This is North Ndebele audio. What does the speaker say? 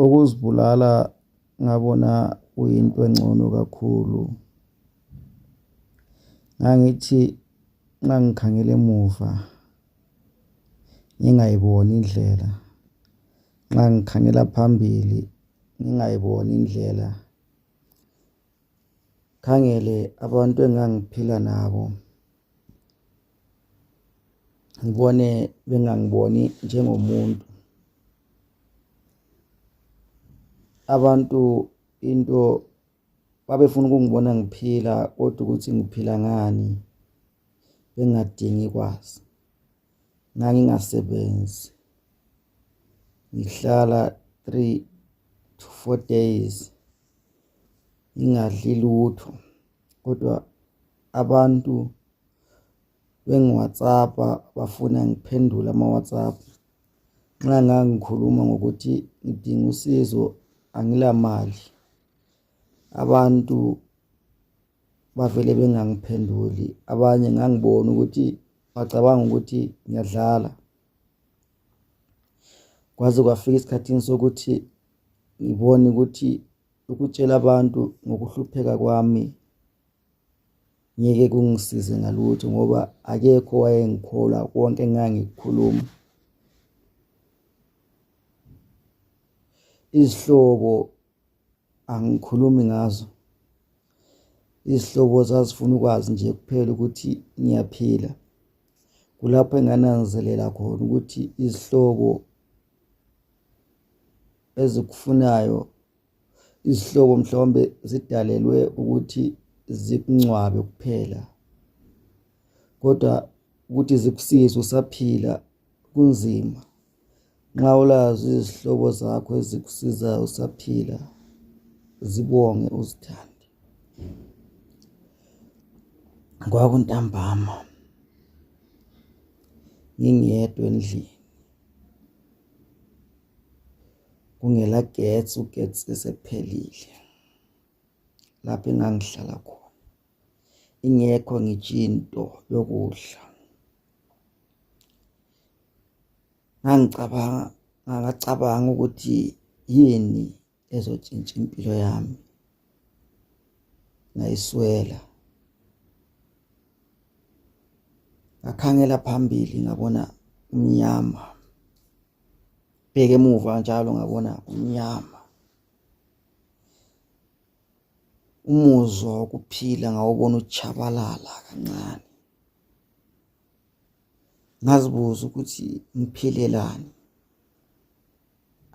Ukuzibulala ngabona kuyinto engcono kakhulu. Ngangithi nxa ngikhangela emuva ngingayiboni indlela, nxa ngikhangela phambili ngingayiboni indlela. khangele abantu engangiphila nabo ngibone bengangiboni njengomuntu abantu into babefuna ukungibona ngiphila kodwa ukuthi ngiphila ngani bengadingi kwazi ngangingasebenzi ngihlala three to four days ingadli lutho kodwa abantu bengiwhatsapp bafuna ngiphendule ama-whatsapp nxa ngangikhuluma ngokuthi ngidinga usizo angilamali abantu bavele bengangiphenduli abanye ngangibona ukuthi bacabanga ukuthi ngiyadlala Kwaze kwafika esikhathini sokuthi ngibone ukuthi ukutshela abantu ngokuhlupheka kwami ngeke kungisize ngalutho ngoba akekho wayengikholwa konke engangikhuluma izihlobo angikhulumi ngazo izihlobo zazifuna ukwazi nje kuphela ukuthi ngiyaphila Kulapho engananzelela khona ukuthi izihlobo ezikufunayo izihlobo mhlawumbe zidalelwe ukuthi zikungcwabe kuphela kodwa ukuthi zikusize usaphila kunzima. Nxa ulazo izihlobo zakho ezikusizayo usaphila, zibonge uzithande. Kwakuntambama, ngingedwa endlini. Kungela getsi, ugetsi esephelile lapho engangihlala khona. Ingekho ngitsho into yokudla. ngangicabanga ngabacabanga ukuthi yini ezotshintsha impilo yami ngayiswela ngakhangela phambili ngabona umnyama bheke emuva njalo ngabona umnyama umuzwa wokuphila ngawubona utshabalala kancane ngazibuza ukuthi ngiphilelani